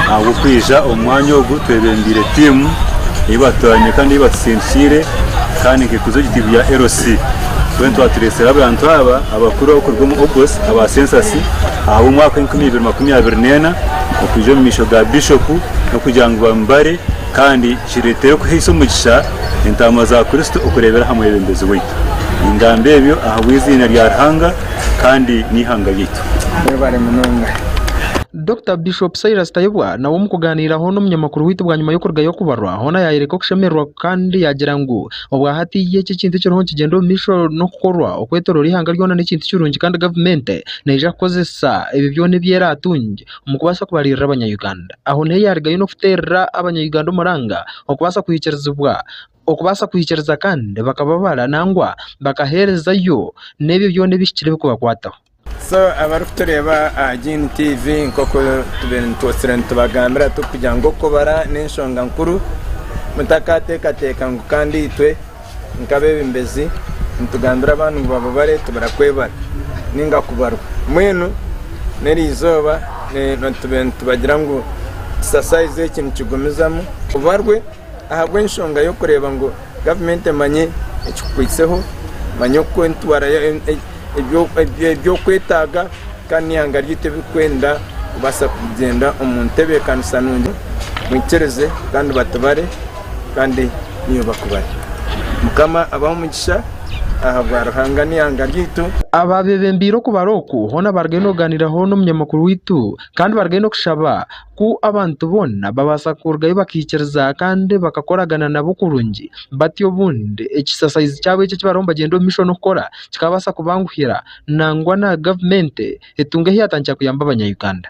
ahabw'okwija omu mwanya ogu twebembeire tiimu ei batwaine kandi ei batutsindikire kandi nk'ekuza egyo tiimu ya LC. Mbwenu twatureetsire abantu aba abakuru abarikuruga omu UBOS aba sensasi ahabw'omwaka enkumi ibiri makumi abiri n'ena okwija omu maisho ga Bishop n'okugira ngu bamubare kandi Kireetere kuhaisa omugisha entaama za Kristo okureebera aha mwebembezi waitu. Ningamba ebyo ahabw'eiziina rya Ruhanga kandi n'eihanga ryaitu. Mwebare munonga. Dokita Bishop Silas Tayebwa nawe omu kugaaniiraho n'omunyamakuru waitu bwanyima y'okurugayo kubarwa hoona yaayereka okushemererwa kandi yaagira ngu obwahati ye eki ekintu ekiriho nikigyenda omu maisho n'okukorwa okwetooroora eihanga ryoona n'ekintu kirungi kandi gavumenti neija kukozesa ebyo byona ebi eraatunge omu kubaasa kubaririra abanya Uganda. Aho niho yarugayo n'okuterera abanya Uganda omuranga okubaasa kuhikirizibwa okubaasa kuhikiriza kandi bakababara nangwa bakaherezayo n'ebyo byona ebihikire bikubakwataho. So abarikutureeba aha Gin TV nk'oku tubaire nitwotsire nitubagambira turikugira ngu okubara n'enshonga nkuru mutakaateekateeka ngu kandi itwe Nk'abeebembezi, nitugambira abaana ngu baaba bareetubira kwebara nainga kubarwa. Mbwenu n'erizooba nitubagira ngu ekisasayizi eki nikigumizamu. Obarwe ahabw'enshonga y'okureeba ngu gavumenti emanye ekikukwitseho, emanye oku eritwara ebyokwetaaga kandi n'eihanga ryaitu ebi ririkwenda kubaasa kugyenda omu ntebeekanisa nungi. Mwikirize kandi batubare. Kandi niiwe bakubare. Mukama abahe omugisha ahabwa Ruhanga n'eihanga ryaitu. Abaabebembeire okubara oku hoona barigayo nokuganiraho n'omunyamakuru waitu kandi barigayo nokushaba ku abantu boona babaasa kurugayo bakaikiriza kandi bakakoragana nabo kurungi batyo obundi ekisasayizi kyabo eki ekibariho nibagyenda omu maisho nokukora kikabaasa kubanguhira nangwa na gavumenti etunge ahu yatandikira kuyamba abanya Uganda.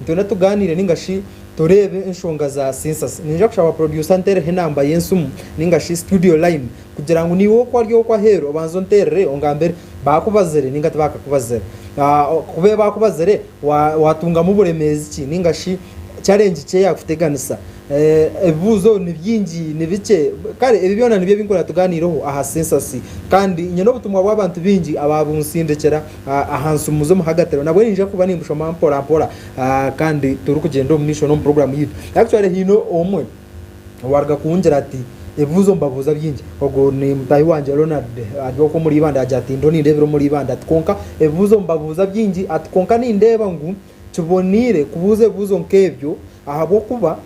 Nitwenda tugaaniire ninga shi toreebe enshonga za Census. Ninyija kushaba Producer anteereho enamba y'ensimu ninga shi Studio Line kugira ngu naiwe oku ari oku aheeru obanze onteerere ongambire baakubazire ninga tibakakubazira. Ku beeye baakubazire waatungamu buremeezi ki ninga shi challenge ki eyaakuteganisa. Ebibuuzo ni bingi ni bikye kare ebi byona nibyo ebi nkwenda tugaaniireho aha Census kandi nyine obutumwa bw'abantu baingi abaabuntsindikira. aha nsimu z'omuhagatiro nabwo ninja kuba nimbushoma mpora mpora kandi turikugyenda omu maisho n'omu puroguramu yaitu actually haine omwe owaruga kungira ati ebibuuzo mbabuuza bingi ogwo ni mutahi wangye Ronald ari okwo omuri ibanda agira ati ndiho nindeebera omuri ibanda ati kwonka ebibuuzo mbabuuza bingi ati kwonka nindeeba ngu kiboneire kubuuza ebibuuzo nk'ebyo Ahabw'okuba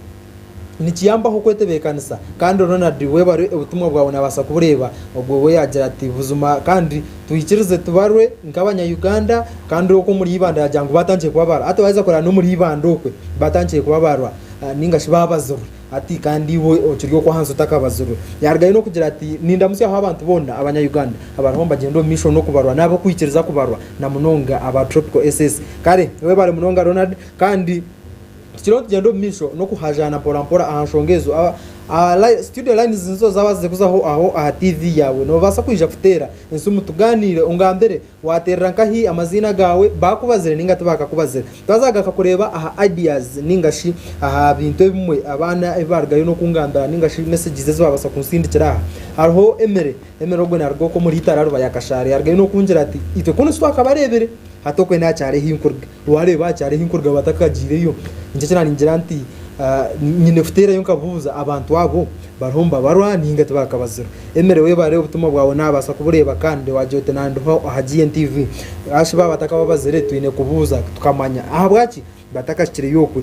nikiyambaho kwetebeekanisa. Kandi Ronald, iwe bare obutumwa bwawe naabaasa kubureeba. Ogwo we yaagira ati, Buzima, kandi twikirize tubarwe nk'Abanya-Uganda, kandi okwo omuri Ibanda yaagira ngu baatandikire kubabarwa. Hati waaheza kureba n'omuri Ibanda okwe baatandikire kubabarwa, nainga shi baabazirwe. Hati kandi iwe okiri okwo ahansi otakabazirwe. Yaarugayo n'okugira ati, Nindamutsyaho abantu boona Abanya-Uganda abariho nibagyenda omu maisho n'okubarwa n'ab'okwikiriza kubarwa, na munonga aba Tropical SS. Kare, webare munonga Ronald, kandi Tukiriho nitugyenda omu maisho n'okuhaajaana mporampora aha nshonga ezo. Aba- aha li- Studio lines nizo zaaba zize kuzaho aho aha TV yaawe. Noobaasa kwija kuteera ensimu tugaaniire, ongambire waateerera nkahi, amaziina gaawe, baakubazire nainga tibaakakubazire. Twazaaga nka kureeba aha ideas nainga shi aha bintu ebimwe abaana ebi baarugayo n'okungambira nainga shi messages ezi baabaasa kunsindikira aha. Hariho Emere. Emere ogwe naaruga okwo omuri Itara Rubaye Akashaara. Yaarugayo n'okungira ati, Itwe kunu titwakabareebire, hati okwe naakyaari ahi nkuruga. Waareeba hakyari ahi kuruga batakagyireyo, nikyo eki naaringira nti nyine kuteerayo nkabuuza abantu abo bariho nibabarwa nainga tibakabazirwa. Emere webare obutumwa bwawe naabaasa kubureeba kandi waagira oti nandiho aha GNTV. Ashi baaba batakababazire twine kubuuza tukamanya ahabwaki batakashikireyo okwe.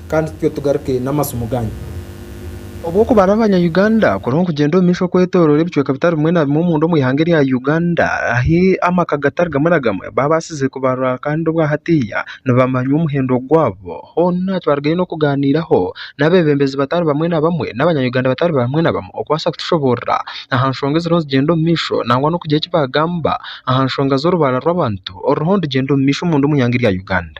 kandi tutyo tugaruke n'amasimu gaanyu. Obu okuba ari abanya Uganda kuriho nikugyenda omu maisho kwetoroora ebicweka bitari bimwe na bimwe omunda omu ihanga erya Uganda ahu amaka gatari gamwe na gamwe babaasize kubarwa kandi obwa hatiiya nibamanywa omuhendo gwabo hoona twarugayo n'okugaaniiraho n'abeebembezi batari bamwe na bamwe n'abanya Uganda batari bamwe na bamwe okubaasa kutushoboorora aha nshonga eziriho nizigyenda omu maisho nangwa n'okugira eki baagamba aha nshonga z'orubaara rw'abantu oruriho nirugyenda omu maisho omunda omu ihanga erya Uganda.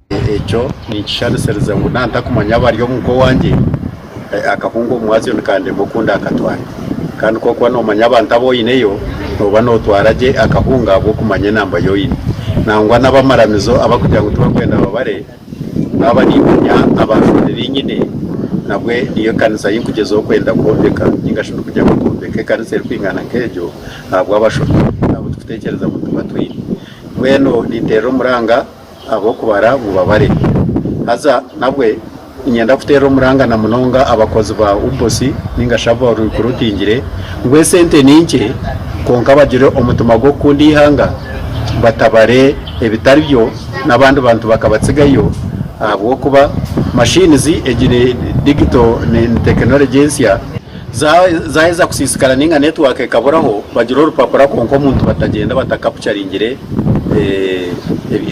Ekyo ninkisharisiriza ngu nantakumanya abari omu nka owangye, akahunga omwazyo nikandema oku ndakatware. Kandi ku orikuba nomanya abantu abu oineyo, noba notwara gye akahunga ahabw'okumanya enamba yu oine. Nangwa n'abamaramizo abarikugira ngu tibarikwenda babare, naaba nimanya abantu babiri nyine, nabwe niyo ekanisa ei ndikugyezaho kwenda kwombeka ninga shi ndikugira ngu nkombeke ekanisa erikwingana nk'egyo ahabw'abashobi abu turikutekyereza ngu tuba twine. Mbwenu ninteera omuranga. ahabw'okubara bubabare. Haza nabwe niinyenda kuteerera omurangana munonga abakozi ba UBOS nainga shi abo abarikurutingire ngu esente ni nkye kwonka bagire omutima gw'okukunda eihanga batabare ebitari byo n'abandi bantu bakabatsigayo ahabw'okuba machines egi ni digito ni tekinologye ensya. Zaaheza kusiisikara nainga netiwaaka ekaburaho, bagira orupapura kwonka omuntu batagyenda batakapucaringire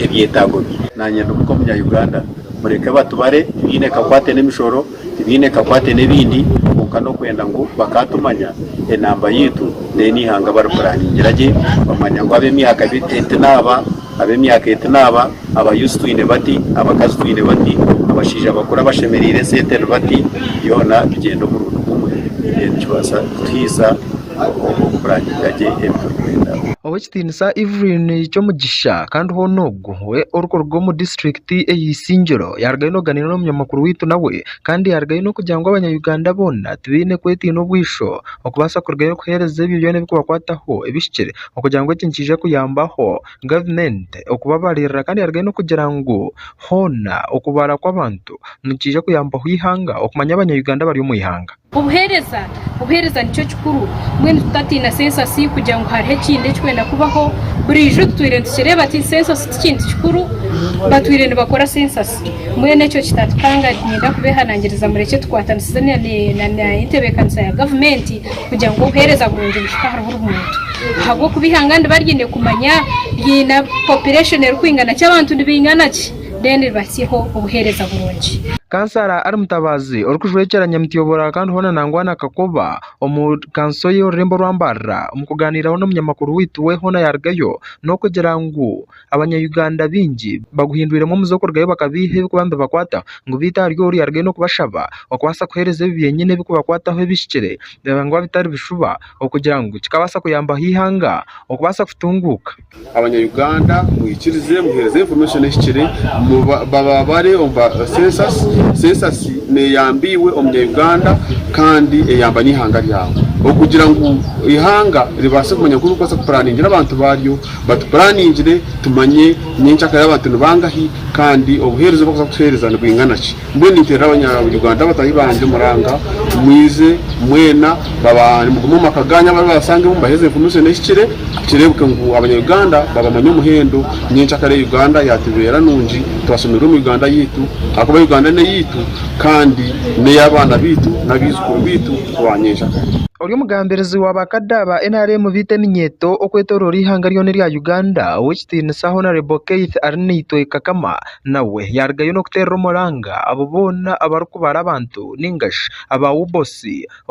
ebyetaago bye. Naanye ndi muka Omunya-Uganda, mureke batubare, tibiine ekakwate n'emishoro, tibiine ekakwate n'ebindi kwonka n'okwenda ngu bakaatumanya enamba yaitu then eihanga baripuraningira gye bamanya ngu ab'emyaka eti naaba, ab'emyaka eti naaba. aba youths twine bati, abakazi twine bati, abashaija bakuru abashemereire esente ni bati, byoona tugyende omurundi gumwe then nikibaasa kutuhaisa okurangiira gye ebi turikwenda. Ow'ekitiinisa Evelyn Kyomugisha kandi hoona ogwo we orikuruga omu district eye Isingiro yarugayo noganiira n'omunyamakuru waitu nawe kandi yarugayo n'okugira ngu abanya Uganda boona tibaine kwetiina obwisho okubaasa kurugayo kuhereza ebyo byoona ebikubakwataho ebihikire okugira ngu eki nikiija kuyambaho. gavumenti okubabaririra kandi yaarugayo n'okugira ngu hoona okubaara kw'abantu nikiija kuyambaho eihanga okumanya abanya-Uganda abari omu eihanga. Obuheereza, Obuheereza nikyo kikuru, mbwenu tutatiina sensasi kugira ngu hariho ekindi ekirikwenda kubaho, burijo tutwire nitukireeba ati sensasi ti kintu kikuru, batwire nibakora sensasi, mbwenu ekyo kitatukanga, niinyenda kubehanangiriza murekye tukwatanisize na n'entebeekanisa ya gavumenti kugira ngu obuheereza burungi buhike ahari buri muntu. ahabw'okuba eihanga riba riine kumanya riine population erikwingana ki, abantu nibaingana ki then ribatsyeho obuheereza burungi. Kansara Ali Mutabaazi orikujwekyera Nyamutyobora kandi hoona nangwa na Kakoba omu kanso y'orurembo rwa Mbarara omu kugaaniiraho n'omunyamakuru waitu we hoona yarugayo n'okugira ngu, Abanyayuganda baingi baguhindwiremu omuze okurugayo bakabeiha ebikuba nibibakwata ngu beitu hariyo ori arugayo n'okubashaba okubasa kuhereza ebi byenyine ebikubakwataho ebihikire nangwa bitari bishuba okugira ngu kikabasa kuyambaho ihanga okubasa kutunguka. Abanyayuganda mwikirize muhereze information ehikire bababare omu ba census. Census neyamba iwe omunyayuganda kandi eyamba n'ihanga ryawe okugira ngu ihanga ribase kumanya oku rikubasa ku puraningira abantu baryo. Batupuraningire tumanye nyenkyaka y'aba bantu ni bangahi kandi obuheereza obu barikuza kutuheereza nibwingana ki. Mbwenu ninteerera Abanya-Uganda bataahi bangye muranga mwije mwena baba nimugume omu maka gaanyu abaribo babasangemu mubaheereze information ehikire kireebeke ngu Abanya-Uganda babamanye omuhendo nyenkyakare ya Uganda yaatubeera nungi twashemererwa omu Uganda yaitu ahakuba Uganda n'eyaitu kandi n'ey'abaana baitu n'abaijukuru baitu. Ori omugambirizi wa ba kada ba nrm baita eminyeeto okwetoroora eihanga ryoona erya Uganda ow'ekitiinisa Hon Keith ari naitwe Kakama nawe yarugayo n'okuteerera omuranga abo boona abarikubara abantu nainga shi aba UBOC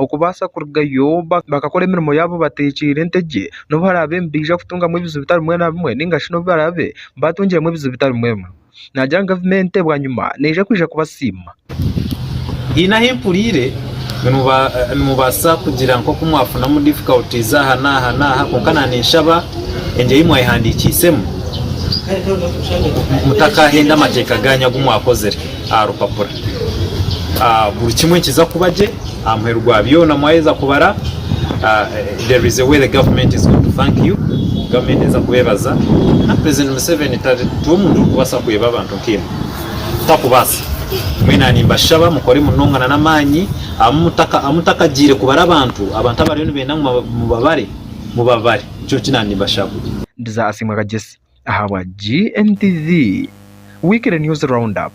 okubaasa kurugayo bakakora emirimo yaabo bateekyeire entegye n'obu baraabe nibaija kutungamu ebizibu bitari bimwe na bimwe nainga shi n'obu baraabe baatungiremu ebizibu bitari bimwe na bimwe. naagira ngu gavumenti bwanyima neija kwija kubasiima. Haine ahu mpuriire nimubaasa kugira nk'oku mwafunamu difficulties aha n'aha n'aha kwonka naaninshaba egyo ei mwayehandiikiisemu mutakaahenda amateeka gaanyu agu mwakozire aha rupapura. Buri kimwe nikiza kuba gye. Amuheru gwa byona mwayeza kubara there is a way the government is going to thank you government neza kubebaza and president Museveni tari omuntu orikubasa kweba abantu nkemwe takubasa mwena nimbashaba mukore munonga na namanyi amutakagire kubara abantu abantu abariyo nibenda ngu mubabare mubabare nikyo nki nandi mbashaba. Ndiza asiimwe Kagyesi. ahabwa GNTV, Weekly News Roundup.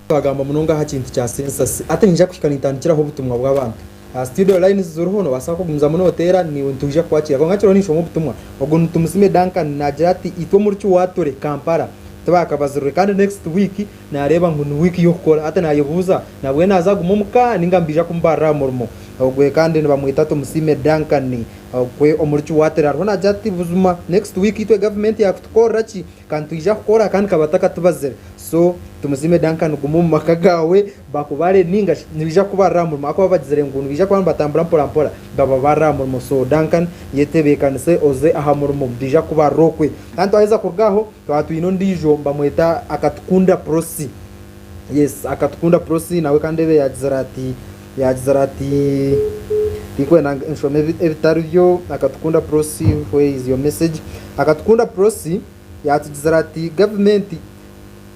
Twagamba munonga aha kintu kya census hati niija kuhika nintandikiraho obutumwa bw'abantu aha studio lines ziriho nobaasa kugumizamu noteera niiwe nitwija kukwakira kwonka kiriho ninshoma obutumwa ogu ni Tumusiime Duncan naagira ati itwe omuri Kiwaatule, Kampala tibakabazirwe kandi next week Naareeba ngu ni wiiki y'okukora, hati naayebuuza nabwenu naaza kuguma omu ka nainga mbaija kumubarira aha murimo. Ogwe kandi nibamweta Tumusiime Duncan. Ogwe omuri Kiwatira ariho naagira ati, Buzima next week itwe gavumenti yaakutukorera ki? Ka nitwija kukora kandi ka batakatubazire. So, Tumusiime Duncan guma omu maka gaawe bakubare nainga shi nibaija kukubarira aha murimo ahakuba bagizire ngu nibaija kuba nibatambura mporampora bababarire aha murimo. So, Duncan yetebeekanise oze aha murimo baija kukubarira okwe. Kandi twaheza kuruga aho, Twaba twine ondiijo nibamweta Akatukunda Prossy. Yes, Akatukunda Prossy nawe kandi ebe yaagizire ati yaagizire ati tikwenda ngu nshome ebi- ebitari byo Akatukunda Prossy where is your message? Akatukunda Prossy yaatugizire ati gavumenti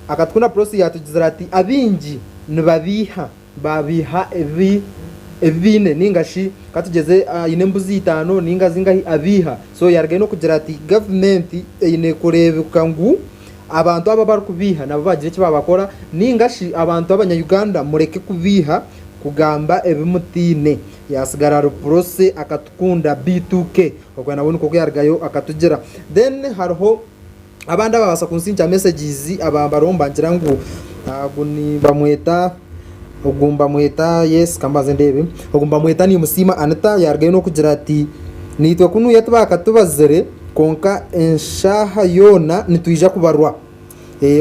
Akatukunda Prossy yaatugizire ati abaingi nibabiiha Baabeiha ebi ebi baine ninga shi katugyeze aine embuzi itaano ninga zingahi abeiha. So yarugayo n'okugira ati gavumenti eine kureebeka ngu abantu aba abarikubeiha nabo baagira eki baabakora ninga shi abantu abanyayuganda mureke kubeiha kugamba ebi mutaine. Yaasigara ari Prossy akatukunda beitu ke. Okwe nawe nikwo ku yarugayo akatugira. Then hariho. Abandi ababaasa kunsindikira messages aba bariho nibagira ngu ogu nibamweta ogu nibamweta yes ka mbanze ndeebe, ogu nibamweta Nimusiima Anita yaarugayo n'okugira ati, Naitwe kunuya tibaakatubazire kwonka eshaaha yoona nitwija kubarwa.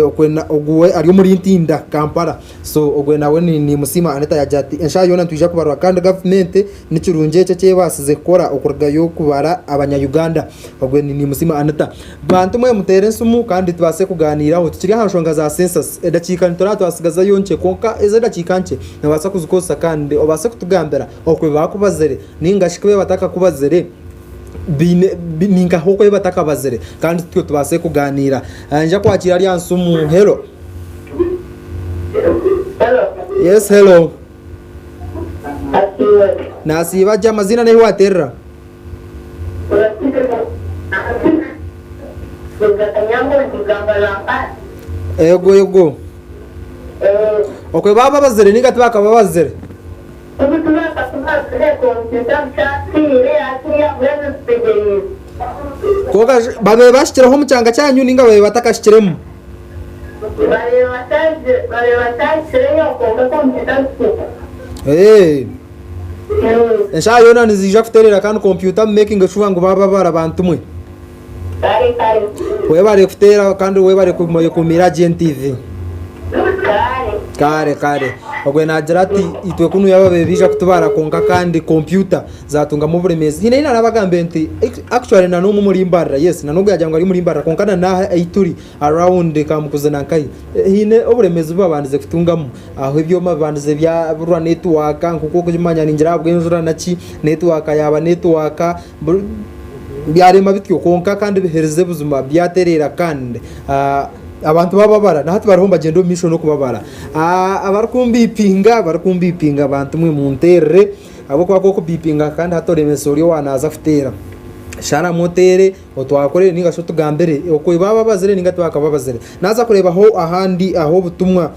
Okwe na ogu we ari omuri Ntinda, Kampala. So ogwe nawe ni Nimusiima Anita yaagira ati, eshaaha yoona nitwija kubarwa kandi gavumenti nikirungi ekyo eki ebaasize kukora okurugayo kubara Abanya-Uganda. Ogwe ni Nimusiima Anita. Bantu mwe muteera esimu kandi tubaase kugaaniiraho tukiri aha nshonga za Census. Edakiika nituraba twatsigazayo nkye kwonka ezo edakiika nkye noobaasa kuzikozesa kandi obaase kutugambira oku bi baakubazire nainga shi ku bi batakakubazire baine ni nkaha oku bi batakabazire kandi tutyo tubaase kugaaniira. Nja kwakiira ari aha nsimu. Hello? Yes, hello? Nasiiba gye amazina n'ahi waterera. Ego ego. Okwe bababazire ninga tibakababazire? Kwonka shi babaire bashikire omu kyanga kyanyu ninga babaire batakashikiremu? Eshaaha yoona niziija kutereera kandi kompyuta mu making sure ngu baababara bantu mwe. Webare kuteera kandi webare kukuumira gye NTV. Kare kare. Ogwe naagira ati itwe kunu yaaba bebiija kutubara kwonka kandi kompyuta zaatungamu oburemeezi. Hiine ei naarabagambe nti actually na n'omu omuri mbarira yes na n'ogu yaagira ngu ari omuri mbarira kwonka na n'aha ei turi Around ka mukuzina nkahi haine oburemeezi bubabandize kutungamu aho ebyoma bibandize byaburwa network nkoku okukimanya ningira ahabwenjura naki network yaba network buri byarema bityo kwonka kandi biherize buzima byatereera kandi abantu bababara nahati bariho nibagyenda omumaisho nokubabara abarikumbipinga barikumbipinga bantu mwe munterere ahabwokuba kwokumpinga kandi hati oremesa ori owaza kuteera sharamu oteere. otwakorere ninga shi otugambire oku eba ababazire ninga tibakababazire naza kureebaho ahandi aho obutumwa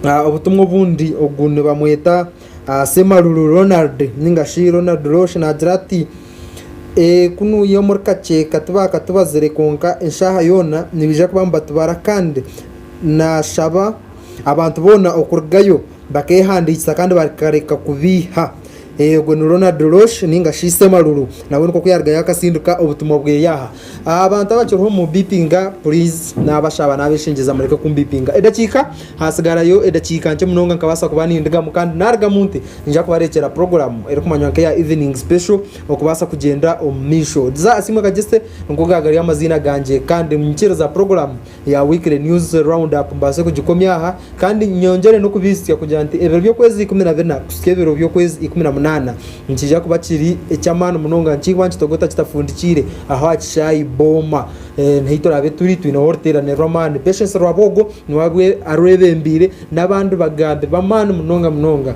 ah, obutumwa obundi ogu nibamweta ah, semaruru ronald ninga shi ronald rosh nagira ati Eh, kunuuye omuri kaceeka tibakatubazire kwonka eshaaha yoona nibaija kuba nibatubara kandi nashaba abantu boona okurugayo Bakeehandiikisa kandi bakareka kubeiha. Ogwo ni Ronald Rosch ninga shi Semaruru nawe nikwo ku yarugayo akatsindika obutumwa bweye aha. Abantu abakiriho mumubipinga please nabashaba nabeshengyeza mureke kumubipinga edakiika hatsigarayo edakiika nkye munonga nkabaasa kuba nindigamu kandi narugamu nte ningira kubarekyera program erikumanywa nka eya evening special okubaasa kugyenda omumaisho. Diza Asiimwe Kagyeste nigo gagari amaziina gangye kandi nyikiriza program. ya Weekly News Round Up mbaase kugikomya aha kandi nyongyere n'okubaitsya kugira nti ebiro by'okwezi ikumi na bina kuhitsya ebiro by'okwezi ikumi na munaana nikiija kuba kiri eky'amaani munonga nikiihwa nikitogota kitafundikiire aho aha kishaayi Booma niho eituraabe turi twineho oruteerane rw'amaani Patience Rwabwogo niwe arwebembeire n'abandi bagambi b'amaani munonga munonga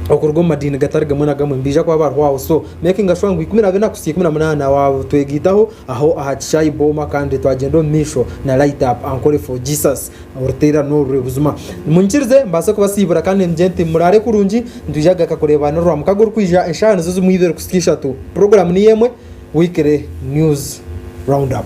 okuruga omu madiini gatari gamwe na gamwe nibaija kuba bariho aho so makinga shuwa ngu ikumi na bina kuhitsya ikumi na munaana waatwegaitaho Aho aha kishaayi booma kandi twagyenda omu maisho na Light Up Ankole for Jesus oruteera n'oru rwe buzima. Munyikirize mbaase kubasiibura kandi nimugye nti muraare kurungi nitwija kugaruka kureebaana orwa mukaga orikwija eshaaha nizo zimwe ibiri kuhitsya ishatu. Puroguraamu niyo emwe, Weekly News Roundup.